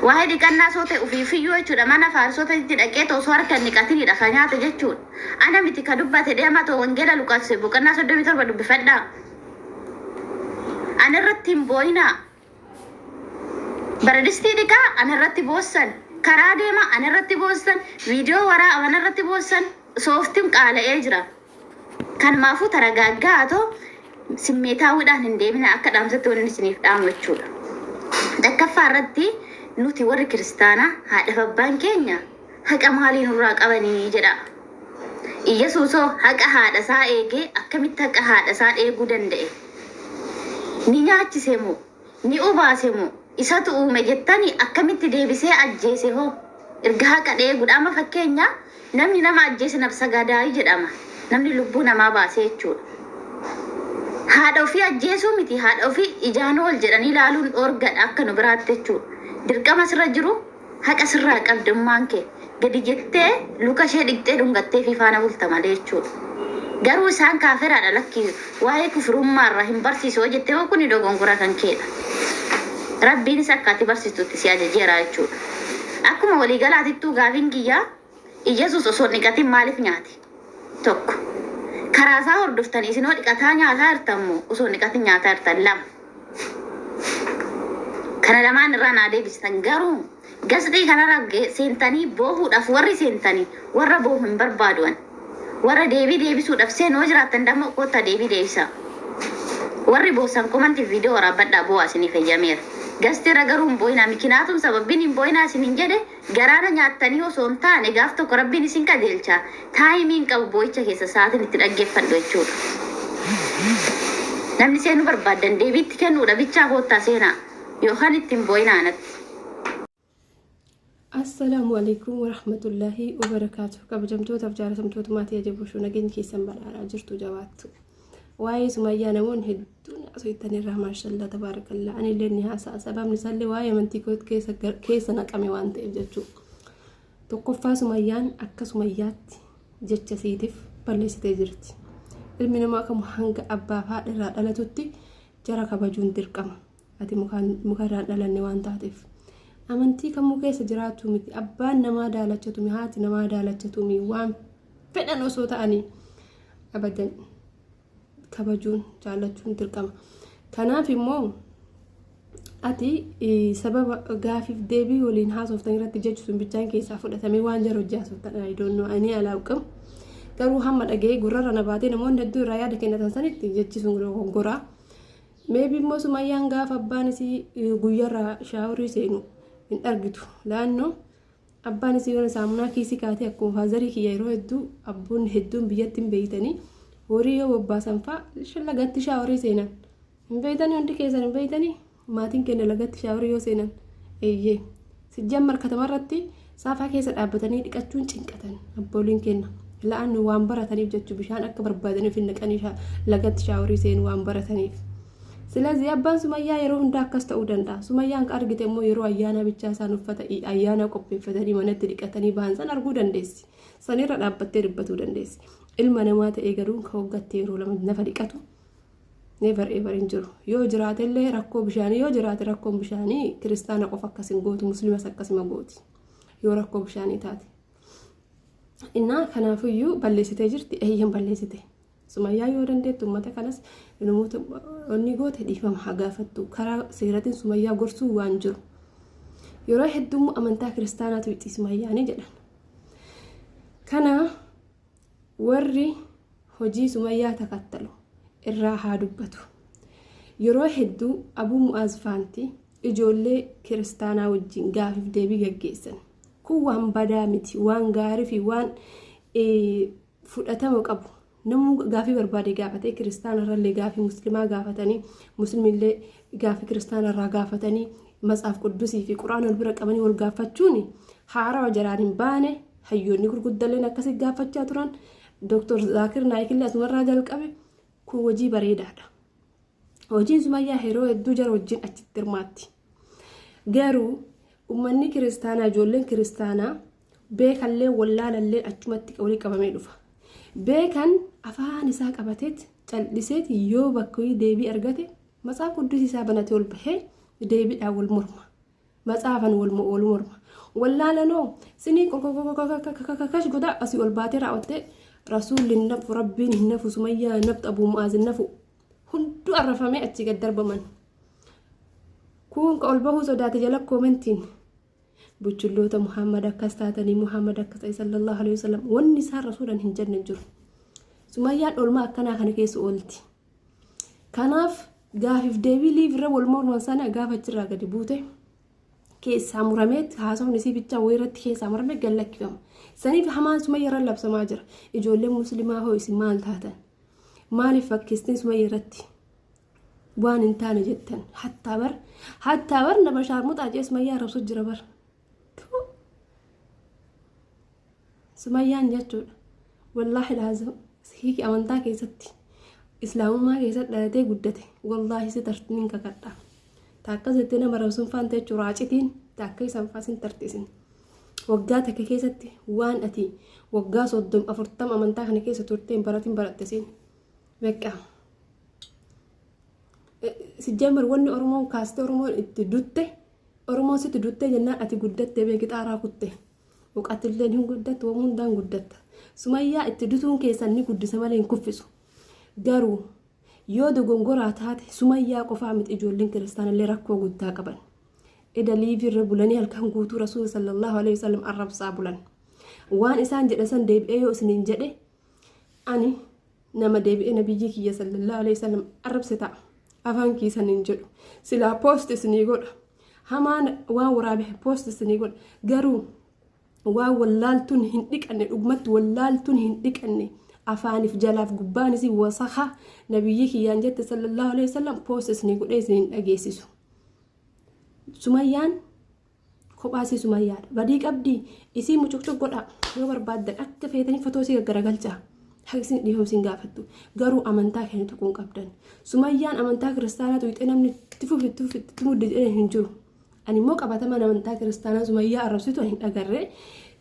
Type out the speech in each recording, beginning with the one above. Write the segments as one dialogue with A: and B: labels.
A: Waa'ee dhiqannaa soo ta'e ofii fiyyoo jechuudha mana faarsota itti dhaqee osoo harka hin dhiqatiniidha kan nyaate jechuudha. Ana miti ka dubbate deema ta'u wangeela Luqaas boqonnaa 37 dubbifadhaa. Ana irratti hin boo'inaa. Baradistii dhiqaa ana irratti boossan. Karaa deema ana irratti boossan. Viidiyoo waraa ana irratti boossan. Sooftiin qaala'ee jira. Kanumaafuu taragaaggaa atoo simmeetaawwiidhaan hin deeminaa akka dhaamsatti wannin isiniif dhaamu jechuudha. Takkaffaa irratti nuti warri kiristaanaa haadhaf abbaan keenya haqa maalii nurraa qabanii jedhaa. Iyyasuusoo haqa haadha isaa eegee akkamitti haqa haadha isaa eeguu danda'e? Ni nyaachisee moo? Ni obaase moo isatu uume jettani akkamitti deebisee ajjeese hoo erga haqa dheegudha amma fakkeenya namni nama ajjeese nabsagaadaayi jedhama namni lubbuu namaa baase jechuudha haadha ofii ajjeesuu miti haadha ofii ijaanuu ol jedhanii ilaaluun dhoorgadha akka nu biraatti jechuudha dirqama sirra jiru Haqa sirraa qabdi ummaan kee. Gadi jettee luka ishee dhiqxee dhungatteefii faana bulta malee jechuudha. Garuu isaan kaafiraadha lakki waa'ee kufrummaa irraa hin barsiisu yoo jette immoo kuni dogongora kan keedha. Rabbiinis akka ati barsiistutti si ajajeera jechuudha. Akkuma waliigalaatittuu gaafiin kiyya. Iyyesuus osoo hin dhiqatin maaliif nyaate? 1, Karaa isaa hordoftanii isin hoo dhiqataa nyaataa jirtan moo osoo hin dhiqatin nyaataa jirtan? 2, Kana lamaan irraa naa deebistan garuu gasxii kanarra ge- seentanii boohuudhaaf warri seentanii warra boohu hin barbaaduan. Warra deebii deebisuudhaaf seenu yoo jiraattan dammoo koottaa deebii deebisaa. Warri boossan komantiif viidiyoo waraabbadhaa boo'aa isiniif heyyameera. Gasxii irra garuu hin boo'inaa mikinaatum sababbin hin boo'inaa isiniin jedhe Garaa na nyaattanii osoo hin taane gaaf tokko Rabbiin isin qajeelcha. Time hin qabu boo'icha keessa sa'aatiin itti dhaggeeffadhu jechuudha. Namni seenuu barbaaddan deebii itti kennuudha bichaa koottaa seenaa. Yookaan itti hin boo'inaa anatti.
B: Assalaamu alaikum warahmatullaahi wabarakaatu. Kabajamtootaaf jaalatamtoota maatii ajaboo shuu nageenyi keessan badhaadhaa jirtu jabaattu. waa'ee sumayyaa namoonni hedduun haasoftan irraa maashallaa tabaarakallaa ani illee ni haasa'a sababni isaallee waa'ee amantii koo keessa keessa naqame waan ta'eef jechuudha. Tokkoffaa sumayyaan akka sumayyaatti jecha siitiif balleessitee jirti. Ilmi namaa kamuu hanga abbaa fi haadha irraa dhalatutti jara kabajuun dirqama. Ati muka irraan dhalanne waan taateef. Amantii kamuu keessa jiraachuu miti. Abbaan namaa daalachatumi, haati namaa daalachatumi waan fedhan osoo ta'anii abadan kabajuun jaallachuun dirqama. Kanaaf immoo ati sababa gaafiif deebii waliin haasoftan irratti jechu sun bichaan keessaa fudhatamee waan jara hojii haasoftan ayidoonnoo ani alaaqamu. Garuu hamma dhaga'ee gurrarra na baatee namoonni hedduu irraa yaada kennatan sanitti jechi sun goraa. Maybe immoo sumayyaan gaafa abbaan isii guyyarraa shaaworii seenu hin argitu laannoo abbaan isii yoona saamunaa kiisii kaatee akkuma faazarii kiyya yeroo hedduu abboonni hedduun biyyatti hin beeytanii horii yoo bobbaasan faa lagatti shaaworii seenan hin beeytanii hundi keessan hin beeytanii maatiin kenna lagatti shaaworii yoo seenan eeyyee. Sijjaammar katamarratti saafaa keessa dhaabbatanii dhiqachuun cinqatan abbooliin kenna. La'anni waan barataniif jechu bishaan akka barbaadaniif hin naqanii lagatti shaaworii seenu waan barataniif. Silazii abbaan sumayyaa yeroo hundaa akkas ta'uu danda'a. Sumayyaan ka argite immoo yeroo ayyaanaa bichaa isaan uffata ayyaanaa qopheeffatanii manatti dhiqatanii bahan san arguu dandeessi. Sanirra dhaabbattee dubbatuu dandeessi. Ilma namaa ta'ee garuu ka waggaatti yeroo lama nafa dhiqatu never ever hin jiru yoo jiraate illee rakkoo bishaanii yoo jiraate rakkoon bishaanii kiristaana qofa akkas hin gootu muslimas akkasuma gooti yoo rakkoo bishaanii taate innaa kanaafiyyuu balleessitee jirti eeyyan balleessite sumayyaa yoo dandeettu uummata kanas namoota onni goote dhiifama haa gaafattu karaa seeratiin sumayyaa gorsuu waan jiru yeroo hedduu amantaa kiristaanaatu itti sumayyaanii jedhan kana Warri hojii Sumayyaa takattalu irraa haa dubbatu. Yeroo hedduu Abuu Mu'aaz faanti ijoollee kiristaanaa wajjin gaafiif deebii gaggeessan. Kun waan badaa miti, waan gaarii fi waan fudhatama qabu. Namuu gaafii barbaade gaafatee kiristaana irrallee gaafii muslimaa gaafatanii muslimillee gaafii kiristaana irraa gaafatanii matsaaf quddusii fi quraan wal bira qabanii wal gaafachuun haarawa jalaan hin baane hayyoonni gurguddalleen akkasi gaafachaa turan Dr. Zaakir Naayikillee asumarraa jalqabe kun hojii bareedaadha. Hojiin sumayyaa yeroo hedduu jara wajjin achitti hirmaatti. Garuu uummanni kiristaanaa ijoolleen kiristaanaa beekallee wallaalallee achumatti walii qabamee dhufa. Beekan afaan isaa qabateet calliseet yoo bakka deebii argate matsaafa quddus isaa banatee ol bahee deebiidhaan wal morma. Matsaafan wal mo wal morma. Wallaalanoo sinii kakakakash godaa asii ol baatee raawwattee rasuulli hin nafu rabbiin hin nafu sumayyaa hin naftu abuu mu'aaz hin nafu hunduu arrafamee achii gad darbaman. Kuun ka ol bahuu sodaate jala koomentiin buchulloota Muhammad akkas taatanii Muhammad akkas ta'e sallallahu alaihi wasallam wanni isaan rasuulan hin jenne hin jiru. Sumayyaan olmaa akkanaa kana keessa oolti. Kanaaf gaafiif deebii liiv irra wal morman sana gaafa achirraa gadi buute keessaa muramee haasofni isii bichaa wayii irratti keessaa muramee gad lakkifama. Saniif hamaan sumayya irra labsamaa jira. Ijoollee muslimaa hoo isin maal taatan? Maaliif fakkeessitan sumayya irratti? Waan hin taane jettan. Hattaa bar hattaa bar nama shaarmuxaa jee sumayyaa arrabsu jira bar. Tuu. Sumayyaan jechuudha. Wallaahi laazim sihiiki amantaa keessatti islaamummaa keessatti dhalatee guddate wallaahi si tarti nin kakadha. Taakka jettee nama rabsuun faanta jechuun raacitiin taakka isaan faasin tartisin. Waggaa takka keessatti waan ati waggaa soddom afurtam amantaa kana keessa turteen baratiin barattesiin. Beekaa. Sijjamar wanni Oromoon kaastee Oromoon itti dutte. Oromoon sitti duttee jennaan ati guddattee beeki xaaraa kutte. Uqatilleen hin guddattu waan hundaan guddatta. Sumayyaa itti dutuun keessan ni guddisa malee hin kuffisu. Garuu yoo dogongoraa taate sumayyaa qofaa miti ijoolleen kiristaanallee rakkoo guddaa qaban. Eda liivii irra bulanii halkan guutuu rasuula sallallahu alaihi wasallam arrabsaa bulan. Waan isaan jedhan san deebi'ee yoo isiniin jedhe ani nama deebi'ee nabiyyii kiyya sallallahu alaihi wasallam arrabse ta'a afaan kiisan hin jedhu silaa poost isinii godha hamaan waan waraabe poost isinii godha garuu waan wallaaltuun hin dhiqanne dhugumatti wallaaltuun hin dhiqanne afaaniif jalaaf gubbaan isii wasaha nabiyyii kiyyaan jette sallallahu alaihi wasallam poost isinii godhee isin hin dhageessisu sumayyaan Kophaa isii sumayyaadha. Badii qabdi isii mucuqcuq godhaa yoo barbaaddan akka feetanii fotoo isii gaggaragalchaa. Haqi isin dhiifama isin gaafattu. Garuu amantaa keenya tuquu hin qabdan. Sumayyaan amantaa kiristaanaa tuqxee namni itti fufi itti fufi itti muddi jedhee hin jiru. Ani immoo qabatamaan amantaa kiristaanaa sumayyaa arrabsitu ani hin agarre.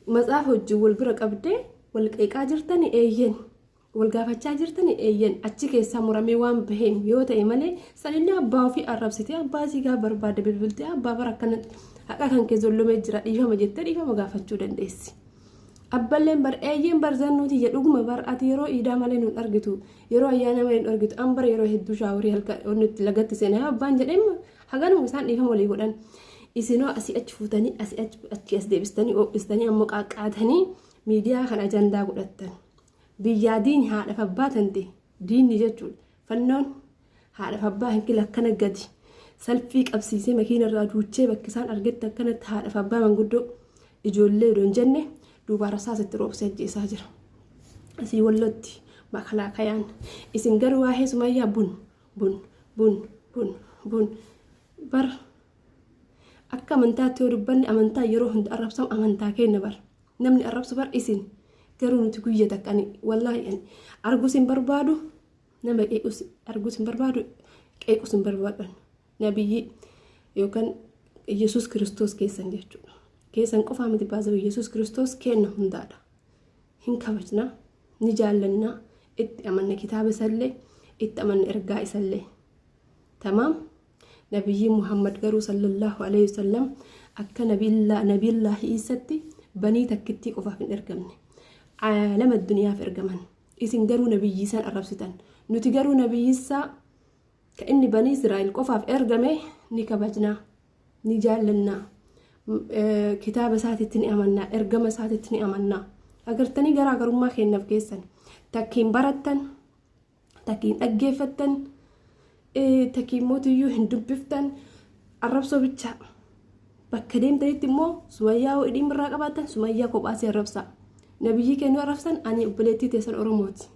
B: Matsaafa wajjin wal bira qabdee wal qeeqaa jirtani eeyyen. wal gaafachaa jirtani eeyyan achi keessaa muramee waan baheen yoo ta'e malee sanillee abbaa ofii arrabsitee abbaa isii gaa barbaadde bilbiltee abbaa bara akkana haqa kan kee zollomee jira dhiifama jettee dhiifama gaafachuu dandeessi. Abballeen bar eeyyeen bar zannuuti jedhu dhuguma bar ati yeroo iidaa malee nun argitu yeroo ayyaana malee nun argitu an bar yeroo hedduu shaaworii halkan onnitti lagatti seenaa yoo abbaan jedheen haganuma isaan dhiifama walii godhan isinoo asii achi fuutanii asii achi as deebistanii oo'istanii ammoo qaaqqaatanii miidiyaa kan ajandaa godhattan. Biyyaa diini haadhaf abbaa tante diinni jechuudha fannoon haadhaf abbaa hin kila akkana gadi salfii qabsiisee makiina irraa duuchee bakki isaan argetti akkanatti haadhaf abbaa manguddoo ijoollee odoo hin jenne duubaa rasaasa itti roobsee ajjeesaa jira asii wallotti makalaakayaan isin garuu waa'ee sumayyaa bun bun bun bun bun bar akka amantaatti yoo dubbanne amantaa yeroo hunda arrabsamu amantaa keenya bar namni arrabsu bar isin garuu nuti guyya takka ani wallaahi ani arguus hin barbaadu nama qeequs arguus hin barbaadu qeequs hin barbaadu nabiyyii yookaan yesus kiristoos keessan jechuudha keessan qofaa miti baasee yesus kiristoos kenna hundaadha hin kabajna ni jaallanna itti amanna kitaaba isallee itti amanna ergaa isallee tamaam Nabiyyiin Muhammad garuu sallallahu alayhi wa sallam akka Nabiyallaahi Iisatti banii takkittii qofaaf hin ergamne. Aalama addunyaaf ergaman. Isin garuu Nabiyyii san arrabsitan. Nuti garuu Nabiyyissaa ka inni banii Israa'el qofaaf ergame ni kabajnaa, ni jaallannaa, kitaaba isaatitti ni amannaa, ergama isaatitti ni amannaa. Agartanii garaagarummaa keenyaaf keessan takkiin barattan takiin dhaggeeffattan takiin mootiyyuu hin dubbiftan arrabsoo bichaa bakka deemtanitti immoo sumayyaa hoo idhiin birraa qabaattan sumayyaa kophaasee arrabsaa nabiyyii kennuu arrabsan ani obboleettii teessan oromooti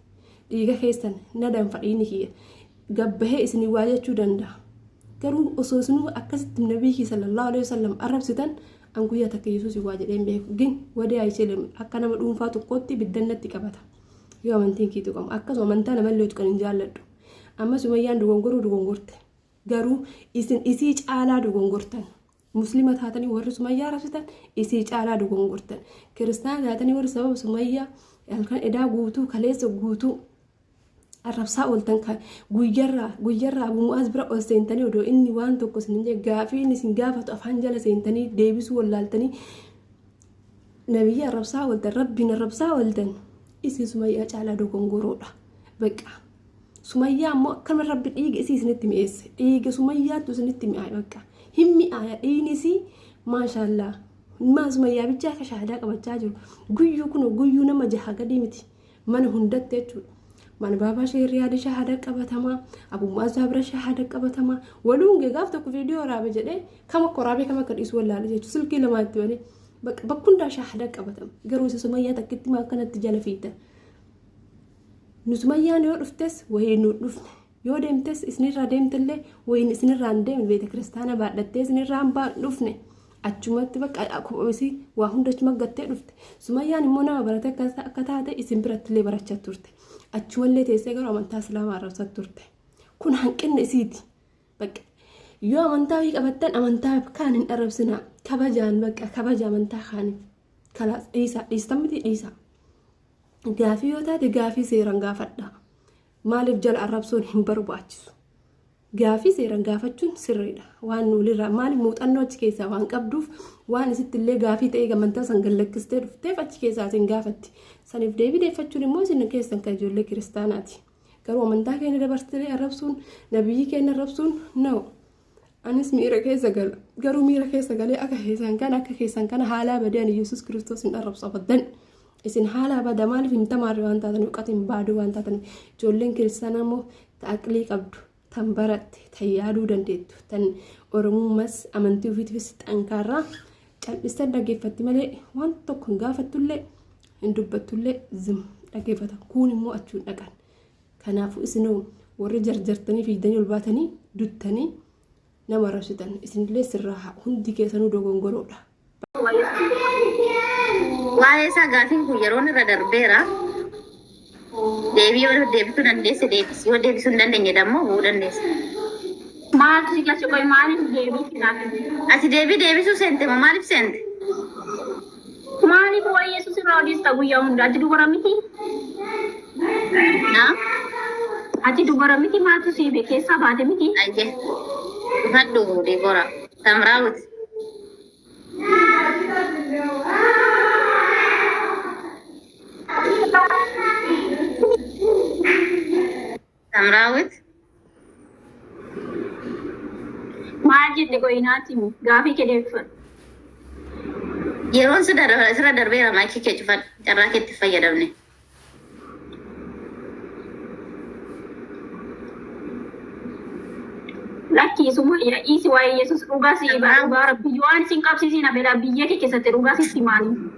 B: dhiiga keessan na danfa dhiini kiyya gabbahee isin waa jechuu danda'a garuu osoo isinuu akkasitti nabiyyii sallallahu alaihi wasallam arrabsitan an guyyaa takka yesuus waa jedheen beeku gin wadee ayiseelem akka nama dhuunfaa tokkootti biddannatti qabata yoo amantiin kee tuqamu akkasuma amantaa namallee tuqan hin jaalladhu amma sumayyaan dogongoruu dogongorte garuu isin isii caalaa dogongortan muslima taatanii warri sumayyaa rabsitan isii caalaa dogongortan kiristaana taatanii warri sababa sumayyaa halkan edaa guutuu kaleessa guutuu arrabsaa ooltan kan guyyarraa guyyarraa abu mu'aaz bira ol seentanii odoo inni waan tokko isin hin gaafii inni isin gaafatu afaan jala seentanii deebisuu wallaaltanii Nabiyyi arrabsaa ooltan rabbiin arrabsaa ooltan isin sumayyaa caalaa dogongoroodha baqqaa sumayyaa ammoo akkana rabbi dhiiga isii isinitti mi'eesse dhiiga sumayyaattu isinitti mi'aaye baqqaa hin mi'aaya dhiigni isii maashaallaa maa sumayyaa bichaa akka shahaadaa qabachaa jiru guyyuu kun guyyuu nama jaha gadii miti mana hundatti jechuudha. Mana baabaa ishee riyaada shahaada qabatamaa, abummaa isaa bira shahaada qabatamaa, waluu hungee gaaf tokko viidiyoo waraabe jedhee kam akka waraabee kam akka dhiisu wallaalee jechuudha. Silkii lamaa itti banee bakka hundaa shahaada qabatama. Garuu isa sumayyaa takkitti maa akkanatti jala fiigdan. Nu sumayyaan yoo dhuftes wayii nu dhufne Yoo deemtes isinirraa deemtellee wayin isinirraa hin deemne beeta kiristaana baadhattee isinirraa hin baan dhufne achumatti bakka isii waa hunda achuma gattee dhufte sumayyaan immoo nama barate akka taate isin birattillee barachaa turte achumallee teessee garuu amantaa islaamaa arrabsaa turte kun hanqinni isiiti bakka yoo amantaa wii qabattan amantaa kaan hin arrabsinaa kabajaan bakka kabaja amantaa kaaniif kalaas dhiisaa dhiistan miti dhiisaa gaafii yoo taate gaafii seeraan gaafadhaa. Maaliif jala arrabsoon hin barbaachisu? Gaafii seeran gaafachuun sirriidha. Waan nuulirraa maali muuxannoo achi keessaa waan qabduuf waan isitti illee gaafii ta'ee gamantaa san gallakkistee dhufteef achi keessaa isin gaafatti. Saniif deebii deeffachuun immoo isin keessan kan ijoollee kiristaanaati. Garuu amantaa keenya dabartee arrabsuun nabiyyi keenya arrabsuun na'u. Anis miira keessa gala. Garuu miira keessa galee akka keessan kana akka keessan kana haalaa badee ani Yesuus Kiristoos hin arrabsu abadan. Isin haalaa bada maaliif hin tamaarre waan taataniif uqatiin baaduu waan taataniif ijoolleen kiristaanaa immoo taaqlii qabdu tan baratte tan yaaduu dandeettu tan oromummas amantii ofiitiifis xankaarraa cal'istan dhaggeeffatti malee waan tokko hin gaafattullee hin dubbattullee zim dhaggeeffata kuun immoo achuun dhaqan. Kanaafuu isinoo warri jarjartanii fiigdanii ol baatanii duttanii nama arrabsitan isinillee sirraa haa hundi keessanuu dogongoroodha.
A: Waa'ee isaa gaafiin kun yeroon irra darbeera. Deebii yoo deebisuu dandeesse deebisi. Yoo deebisuu hin dandeenye dammoo bu'uu dandeessa.
C: Maaltu si galche qoy maaliif deebii kinaaf? Ati deebii deebisuu
A: seente moo maaliif seente?
C: Maaliif waa'ee Yesuus irraa odeessita guyyaa hunda? Ati dubara miti?
A: Na? Ati
C: dubara miti maatu si hibe keessaa baate miti? Ayye. Dhufadhu
A: Deebora. Samraawut. Samraawit.
C: Maal jette qoyi naatti himi. Gaafii kee deebifadhu. Yeroon
A: sirra darbe- sirra darbeera maayikii kee cufadhu. Carraa keetti hin fayyadamne.
C: Lakkii sumayya dhiisi waa'ee Yesuus dhugaa si himaa dhugaa rabbi waan isin qabsiisiin abelaa biyya kee keessatti dhugaa sitti himaanii.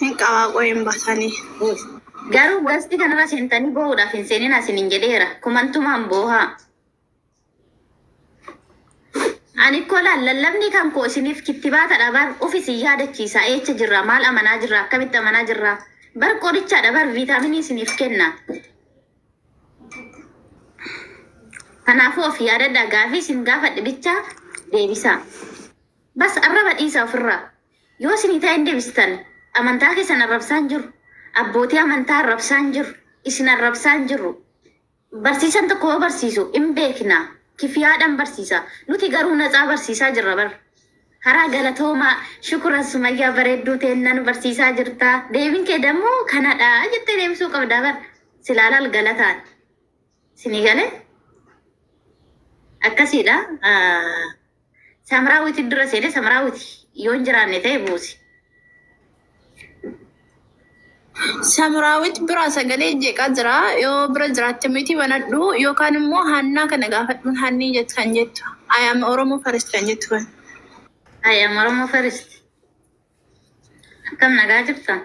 A: Hin qabaa qoy
D: hin basani. Uuff
A: garuu gasti kanarra seentanii boo'uudhaaf hin seeninaa isinin jedheera kumantumaan boohaa ani koo laal lallabni kan koo isiniif kittibaatadha bar uf isin yaadachiisa eecha jirra maal amanaa jirra akkamitti amanaa jirra bar qorichaadha bar viitaaminii isiniif kenna kanaafuu of yaadadha gaafii isin gaafadhe bicha deebisaa bas arraba dhiisa ofirraa Yoo isinii ta'e hin deebisitan. Amantaa keessan arrabsaa hin jiru. Abbootii amantaa arrabsaa hin jiru. Isin arrabsaa hin jirru. Barsiisan tokko yoo barsiisu hin beekna. Kifiyaadhan barsiisa. Nuti garuu natsaa barsiisaa jirra bar. Haraa galatoomaa. Shukuran Sumayyaa bareedduu teenna nu barsiisaa jirta. Deebiin kee dammoo kanadha jettee deebisuu qabda bar. Silaa laal galataan. Isinii galee akkasiidha. Samraawiti dura seene samraawiti yoo hin jiraanne ta'e buusi.
D: Samraawit bira sagalee jeeqaa jira. Yoo bira jiraatte miti banadhu yookaan immoo hannaa kana gaafadhuun hannii jett kan jettu. Ayam Oromoo Farist kan jettu kan. Ayam
A: Oromoo Farist. Akkam nagaa jirtan?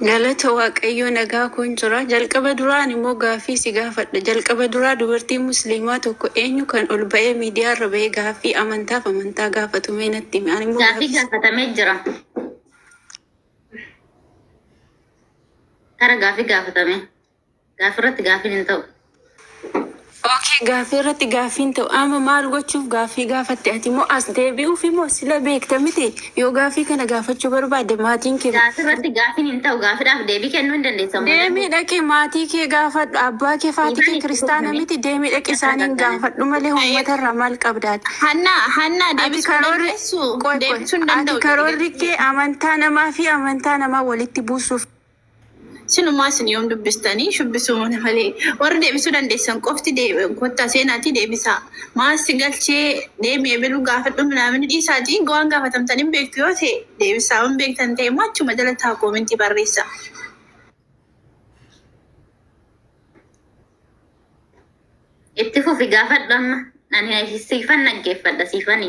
D: Galata Waaqayyoo nagaa koon jira. Jalqaba duraa ani immoo gaaffii si gaafadha. Jalqaba duraa dubartiin musliimaa tokko eenyu kan ol ba'ee miidiyaa irra ba'ee gaaffii amantaaf amantaa gaafatu mee natti himi. Ani immoo Gaaffii gaaffii gaafatamee jira.
A: Tara gaaffii gaafatame. Gaaffii irratti gaaffiin hin ta'u.
D: Okay, gaaffii irratti gaaffii hin ta'u. Amma maal gochuuf gaaffii gaafatte ati moo as deebi'uuf moo sila beekta miti yoo gaaffii kana gaafachuu barbaadde maatiin kee Gaaffii irratti gaaffiin hin
A: ta'u. Gaaffiidhaaf deebii kennuu hin dandeessan. deemii dhaqi maatii
D: kee gaafadhu abbaa kee faatii Dhiifama kee itti kiristaana godhame. miti deemii dhaqi isaaniin gaafadhu malee uummata irraa maal qabdaati. Hannaa, hannaa Ati deebisuu karoorri
A: dandeessu. qoy qoy
D: Deebisuu hin ati danda'u. karoorri kee amantaa namaa fi amantaa namaa walitti buusuuf Sinumaa isin yoom dubbistanii shubbisuu mana malee warri deebisuu dandeessan qofti dee- kottaa seenaatii deebisaa maal si galchee deemi ebiluu gaafadhu minaamini dhiisaatii gowaan gaafatamtan hin beektu yoo ta'e deebisaa yoo hin beektan ta'e immoo achuma jala taa koomentii barreessa.
A: Itti fufi gaafadhu amma. Ani siifan dhaggeeffadha siifani.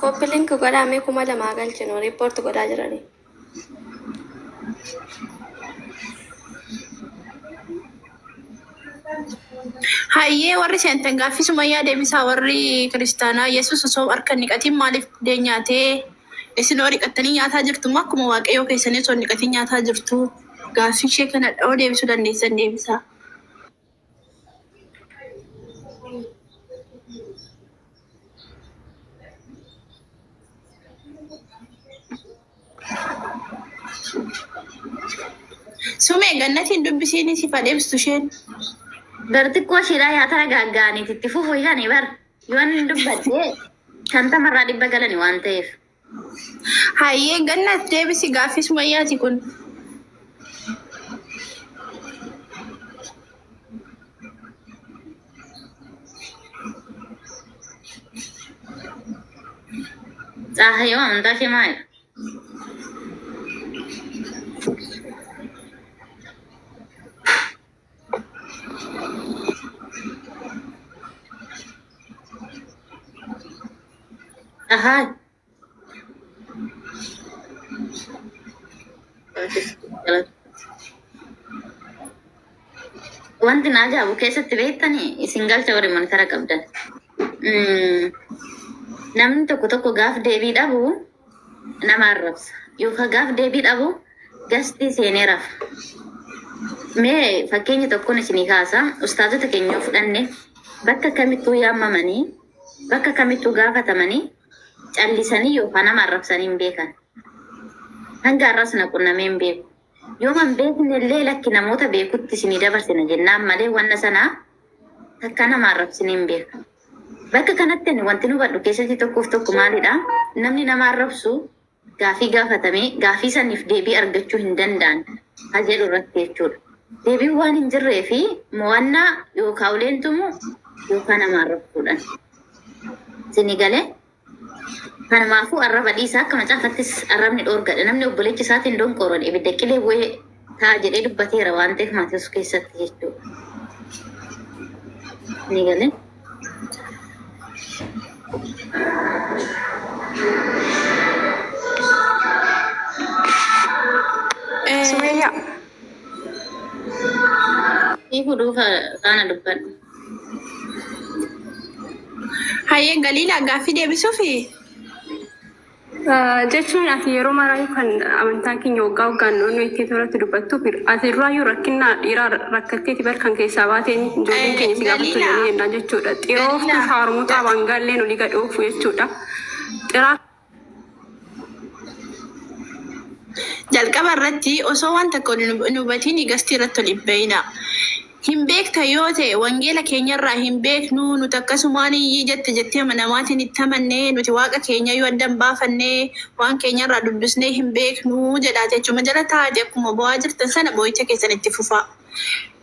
E: Copy link godhaa mee kuma lama haa galchinu report godhaa jiranii.
D: Hayyee warri seentan gaaffii sumayyaa deebisaa warri kiristaanaa yesus osoo harka hin dhiqatiin maaliif buddeen nyaatee isin hoo dhiqattanii nyaataa jirtu moo akkuma waaqayyoo keessanii osoo hin dhiqatiin nyaataa jirtu gaaffii ishee kanadha hoo deebisuu dandeessan deebisaa. Sumee gannatiin dubbisiin si fadheebstu isheen. Bar
A: xiqqoo ishiidhaa yaa tara gaaggaaniiti itti fufu ishani bar yoon dubbadhee shantamarraa dhibba galani waan ta'eef.
D: Hayyee gannat deebisi gaaffii sumayyaati kun.
A: Xaahayoo amantaa kee maali? Ahaa. Wanti na ajaa'ibu keessatti beektanii isin galcha warri mantara qabdan. Mm, Namni tokko tokko gaaf deebii dhabu nama arrabsa yookaan gaaf deebii dhabu gastii seenee rafa. Mee fakkeenya tokkoon isinii kaasa ustaazota keenya yoo fudhanne bakka kamittuu yaamamanii bakka kamittuu gaafatamanii callisanii yookaan nama arrabsanii hin beekan. Hanga har'as na qunnamee hin beeku. Yooma hin beekne illee lakki namoota beekutti isinii dabarsina jennaan malee wanna sana takkaa nama arrabsinee hin beeknu. Bakka kanatti ani wantin hubadhu keessatti tokkoof tokko maalidha? Namni nama arrabsu gaafii gaafatamee gaafii saniif deebii argachuu hin danda'an ha jedhu irratti jechuudha. Deebiin waan hin jirree fi mo'annaa yookaa uleen tumu yookaa nama arrabsuudhan. Isinii galee? Kanumaafuu arraba dhiisaa akka macaafattis arrabni dhoorgadha. Namni obboleecha isaatiin donqooron ibidda qilee bu'ee ta'a jedhee dubbateera waan ta'eef Maatewos keessatti jechuudha. Ni galee? Sumeeyyaa. Hiikuu duuka faana dubbadhu.
D: Hayyee Galiilaa gaaffii deebisuufi?
B: Jechuun ati yeroo maraayyuu kan amantaa keenya waggaa waggaan naannoo itti irratti dubbattu ati duraayyuu rakkinna dhiiraa rakkatteeti bar kan keessaa baateen ijoolleen keenya si gaafattu Galiilaa. jedhanii yennaan jechuudha. Xirooftu Galiilaa. shaarmuxaa baangaalleen olii gad oofu jechuudha. Xiraa
D: Jalqaba irratti osoo waan tokko hin hubatiin gastii irratti ol hin ba'inaa. Hin beekta yoo ta'e wangeela keenyarraa hin beeknu nuti akkasumaan iyyii jette jettee namaatiin itti amanne nuti waaqa keenya yoo adda hin baafanne waan keenyarraa dubbisnee hin beeknu jedhaati achuma jala taa'aati akkuma bo'aa jirtan sana boo'icha keessan itti fufaa.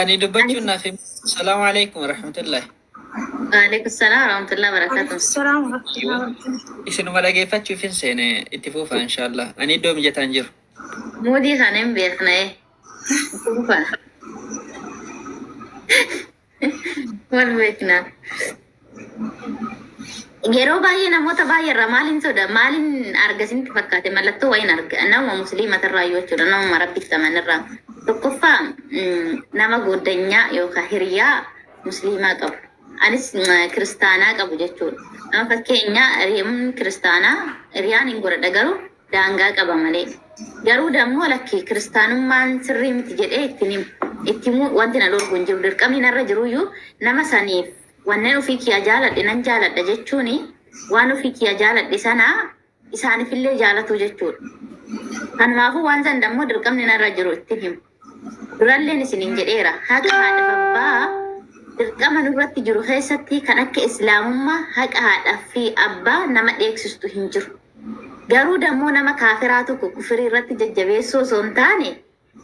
F: Ani dubbachuun naaf hin. Salaamu alaikum warahmatullahi. Waalaikum salaam warahmatullahi wabarakatuh.
A: Salaam warahmatullahi wabarakatuh.
F: Isinuma dhageeffachuuf hin seene itti fufa inshaallah. Ani iddoo mijataan jiru. Muudii kana
A: hin beekna ee. Kuufa. Wal beekna. Yeroo baay'ee namoota baay'ee irraa maaliin soda maaliin arga isinitti fakkaate mallattoo wayiin arga nama musliima irraa yoo jechuudha nama rabbitti taman irraa tokkoffaa mm, nama goddanyaa yookaan hiriyaa musliimaa qabu anis mm, kiristaanaa qabu jechuudha nama fakkeenyaa hiriyaan kiristaanaa hiriyaan hin godhadha garuu daangaa qaba malee. Garuu dammoo lakki kiristaanummaan sirrii miti jedhee itti hin himu. Itti himuu wanti na dhorgu hin jiru. Dirqamni narra jiruyyuu nama saniif wannen ofii kiyaa jaaladhe nan jaaladha jechuun waan ofii kiyaa jaaladhe sana isaanifillee jaalatuu jechuudha. Kanumaafuu waan san dammoo dirqamni narra jiru itti hin himu. Duralleen isiniin jedheera, haqa haadha babbaa dirqama nurratti jiru keessatti kan akka Islaamummaa haqa haadha fi abbaa nama dheeksistu hin jiru. Garuu dammoo nama kaafiraa tokko kufirii irratti jajjabeessuu osoo hin taane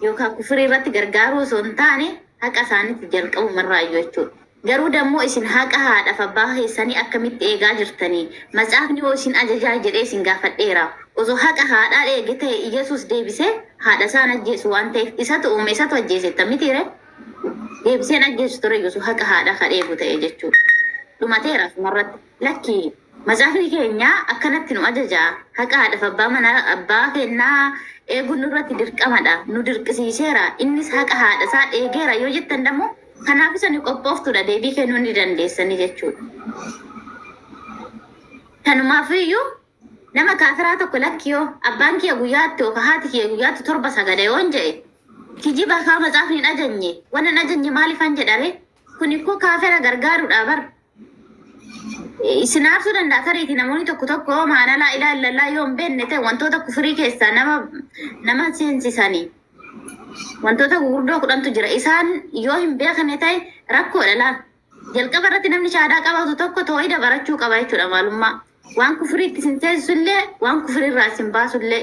A: yookaan kufirii irratti gargaaruu osoo hin taane haqa isaanitti jalqabumarraayyuu jechuudha. Garuu dammoo isin haqa haadhaf abbaa keessanii akkamitti eegaa jirtanii? Matsaafni hoo isin ajajaa jedhee isin gaafadheera? Osoo haqa haadhaa eege ta'e Iyyasuus deebisee haadha isaa hin ajjeesu waan ta'eef isatu uume isatu ajjeese jetta mitiiree? Deebisee hin ajjeesu tureyyuu osoo haqa haadhaa kan eegu ta'e jechuu dhumateera asumarratti. Lakki matsaafni keenya akkanatti nu ajaja. Haqa haadhaf abbaa manaa abbaa keennaa eeguun nurratti dirqamadha. Nu dirqisiiseera. Innis haqa haadha isaa eegeera yoo jettan dammoo Kanaaf isani qophooftuudha deebii kennuu ni dandeessanii jechuudha. Kanumaaf iyyuu nama kaafiraa tokko lakki yoo abbaan kiyya guyyaatti yookaan haati kiyya guyyaatti torba sagada yoon jedhe kijiba kaa matsaafni hin ajajne waan hin ajajne maaliifan jedhare kun ikkoo kaafira gargaaruudha bar Isin aarsuu danda'a tariiti namoonni tokko tokko maanalaa ilaallallaa yoo hin beekne ta'e wantoota kufurii keessaa nama nama seensisanii wantoota gurguddoo kudhantu jira. Isaan yoo hin beekne ta'e rakkoodha laa. Jalqaba irratti namni shahaadaa qabatu tokko toohida barachuu qaba jechuudha maalummaa. Waan kufuriitti isin seesisu illee waan kufurii irraa isin baasu illee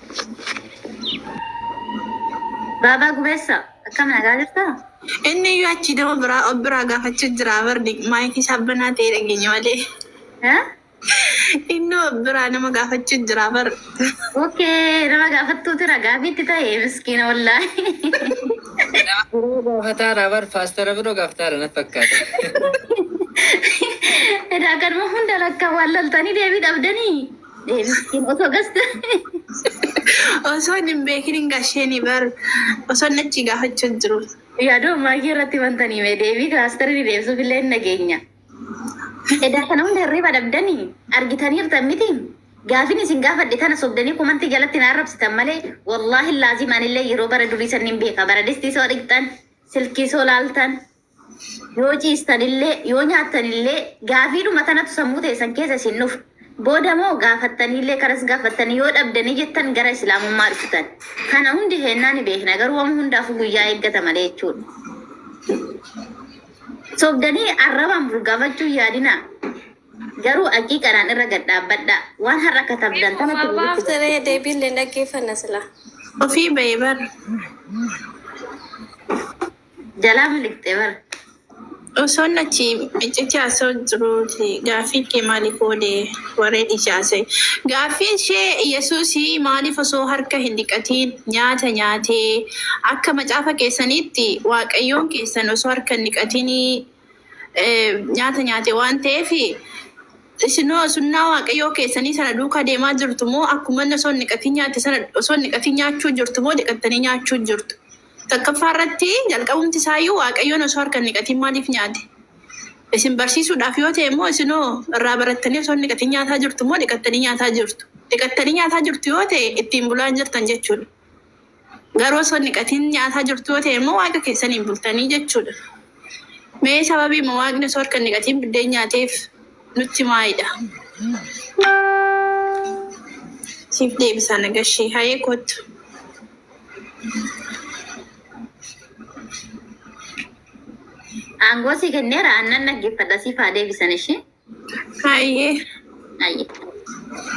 A: Baabaa gubeessa akkam nagaa jirta? Inni iyyuu achi
D: nama biraa of biraa gaafachuu jira bardi maayikii isaa banaa ta'ee dhageenya malee. Eh? Inni of biraa nama gaafachuu jira bar. Okay,
A: nama gaafattuuti ragaa bitti ta'e miskiina wallaahi. Biroo
F: gaafataara bar paastara biroo gaafataara na fakkaata.
A: Edaa kanuma hunda lakka wallaaltanii deebii dhabdanii. Deebiin osoo gasta.
D: Osoo hin beekin hin gasheenii bar osoo inni achi gaafachuu hin jiru. Yaadoo maayyee
A: irratti wanta ni mee deebii kilaastarii deebisuuf illee hin nageenya. Edaa kana hunda hirriba dhabdanii argitaniirtan miti. Gaafin isin gaafadhe tana sobdanii komantii jalatti na arrabsitan malee wallaahi laazim anillee yeroo bara durii sanniin beeka bara distii soo dhiqxan silkii soo laaltan Yoo ciistanillee, yoo nyaattanillee gaafiidhuma tanatu sammuu teessan keessa isin dhufa. Booda moo gaafattaniillee kanas gaafattanii yoo dhabdanii jettan gara Islaamummaa dhuftan. Kana hundi keennaa ni beekna garuu wama hundaafuu guyyaa eeggata malee jechuudha. Sobdanii arrabaan bulgaafachuu hin yaadinaa. Garuu haqiiqadhaan irra gad dhaabbadhaa. Waan har'a katabdan tanatu Waa guututti baafte ree deebiin
E: leen dhaggeeffanna silaa. Ofii bahe
D: bar.
A: Jalaa miliqxee bar. Osoon
D: achi iccitii haasa'u jiruuti gaaffii kee maaliif oole warree dhiisee haasa'e. Gaaffii ishee Yesuusii maaliif osoo harka hin dhiqatiin nyaata nyaatee akka macaafa keessaniitti waaqayyoon keessan osoo harka hin dhiqatinii nyaata nyaate waan ta'eef isinoo sunnaa waaqayyoo keessanii sana duukaa deemaa jirtu moo akkuma inni osoo hin dhiqatiin nyaate sana osoo hin dhiqatiin nyaachuu jirtu moo dhiqattanii nyaachuu jirtu. 1ffaa irratti jalqabumti isaa iyyuu Waaqayyoon osoo harka hin dhiqatiin maaliif nyaate? Isin barsiisuudhaaf yoo ta'e immoo isin hoo irraa barattanii osoo hin dhiqatiin nyaataa jirtu moo dhiqattanii nyaataa jirtu? Dhiqattanii nyaataa jirtu yoo ta'e ittiin bulaa hin jirtan jechuu dha. Garuu osoo hin dhiqatiin nyaataa jirtu yoo ta'e immoo Waaqa keessaniin bultanii jechuu dha. Mee sababiima Waaqni osoo harka hin dhiqatiin biddeen nyaateef nutti himaa idha. Siif deebisaa Nagashee. Hayee koottu.
A: Aangoo si kenneera aannan dhaggeeffadha siif haa deebisan ishee. Hayyee. Ayyee.